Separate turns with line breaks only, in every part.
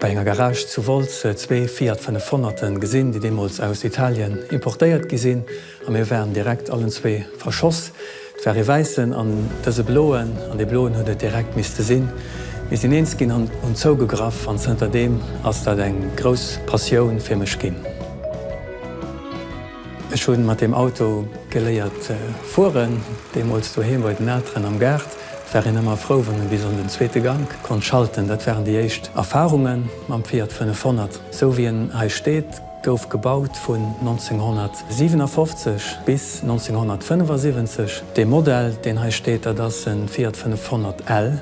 Bei enger Garage zu Wolz zwee Fiat 500 gesinn, déi deemools aus Italien importéiert gi sinn, a mir waren direkt allen zwee verschoss. Et war ee wäissen an dëse bloen, an dee bloen huet et direkt misste sinn. Mir sinn eens ginn an hunn zougegraff, an zënter deem ass dat eng grouss Passioun fir mech ginn. Ech hunn mat deem Auto geléiert fueren, deemools doheem bei den Elteren am Gaart. Et war een ëmmer frou, wann e bis an den zweete Gank konnt schalten. Dat waren déi éischt Erfarunge mam Fiat 500. Sou wéi en hei steet, gouf gebaut vun 1957 bis 1975. Dee Modell, deen hei steet, dat ass e Fiat 500 L,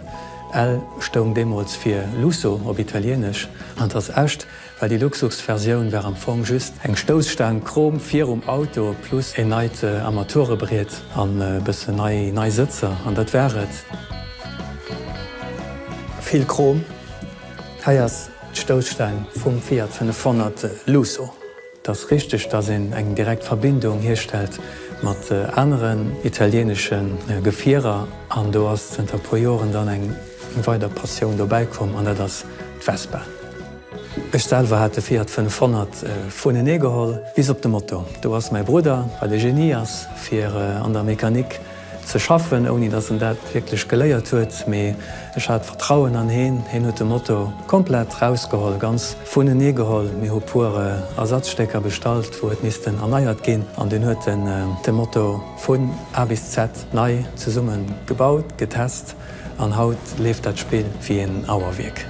L stoung deemools fir Lusso op Italienesch an ass echt. well déi Luxusversioun war am Fong just eng Stousstaang Chrom virum Auto plus een neit Armaturebriet an e bëssen nei nei Sëtzer an dat war et. Vill Chrom, hei ass d'Stousstaang vum Fiat 500 Lusso. Et ass richteg dass een eng direkt Verbindung hierstellt mat aneren italienesche Gefierer an do ass zënter e puer Joren dann eng weider Passioun dobäikomm an dat ass d'Vespa. Ech selwer hat de Fiat 500 vunenee geholl bis op de Moto. Do ass mäi Brudder, well e Genie ass fir an der Mechanik ze schaffen, ouni datt en dat wierklech geléiert huet, mee ech hat Vertrauen an heen, heen huet de Moto komplett rausgeholl, ganz vunenee geholl. Mir hu puer Ersatzstécker bestallt, wou huet missten erneiert ginn, an dunn huet en de Moto vun A bis Z nei zesummen gebaut, getest. An haut leeft dat Spill wéi een Auerwierk.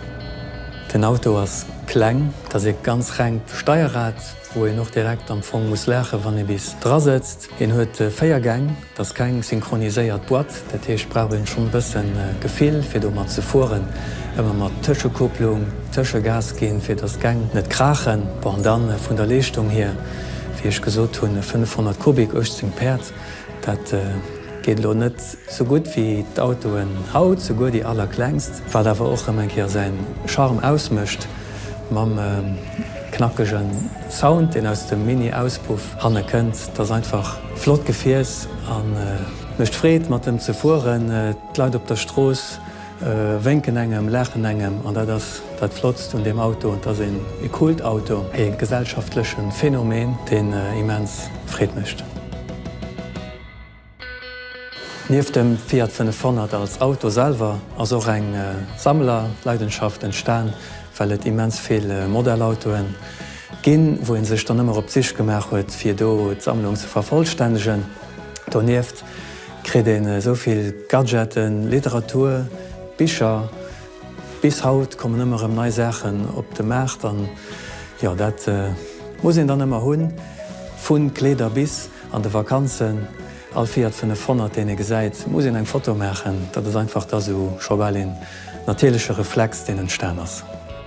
Den Auto ass kleng, et ass ee ganz rengt Steierrad, wou een och direkt am Fong muss laachen, wann ee bis dra sëtzt. Een huet 4 Gäng, et ass keng synchroniséiert Boîte, dat heescht, et brauch een schonn e bësse Gefill, fir domat ze fueren. Ëmmer mat Tëschekupplung, Tëschegas ginn, fir datt d'Gäng net kraachen. Bon, an da vun der Leeschtung hier, wéi ech gesot hunn, 500 Kubik, 18 Päerd. Dat geet elo net sou gutt wéi d'Autoen haut, souguer déi allerklengst, wat awer och rëm eng Kéier säi Charme ausmécht, mam knackege Sound, deen aus dem Mini-Auspuff hanne kënnt. Dat ass einfach flott Gefiers a mécht Freed mat em ze fueren. D'Leit op der Strooss. Wénken engem, laachen engem, an dat ass dat Flottst un deem Auto. Et ass een Kultauto, ee gesellschaftleche Phänomen, deen immens Freed mécht. Nieft dem Fiat 500 als Auto selwer ass och eng Sammlerleidenschaft entstan, well et immens vill Modellautoen ginn, wou ee sech dann ëmmer op d'Sich gemaach huet, fir do d'Sammlung ze vervollstännegen. Donieft. Kritt een esou vill Gadgeten, Literatur, Bicher, bis haut kommen ëmmer erëm nei Saachen op de Maart an jo dat muss een dann ëmmer hunn, vu Kleeder bis an de Vakanzen all fiiert 500 deen ee gesäit muss een eng Foto maachen, dat ass einfach da sou scho bal een natierleche Reflex deen entstan ass.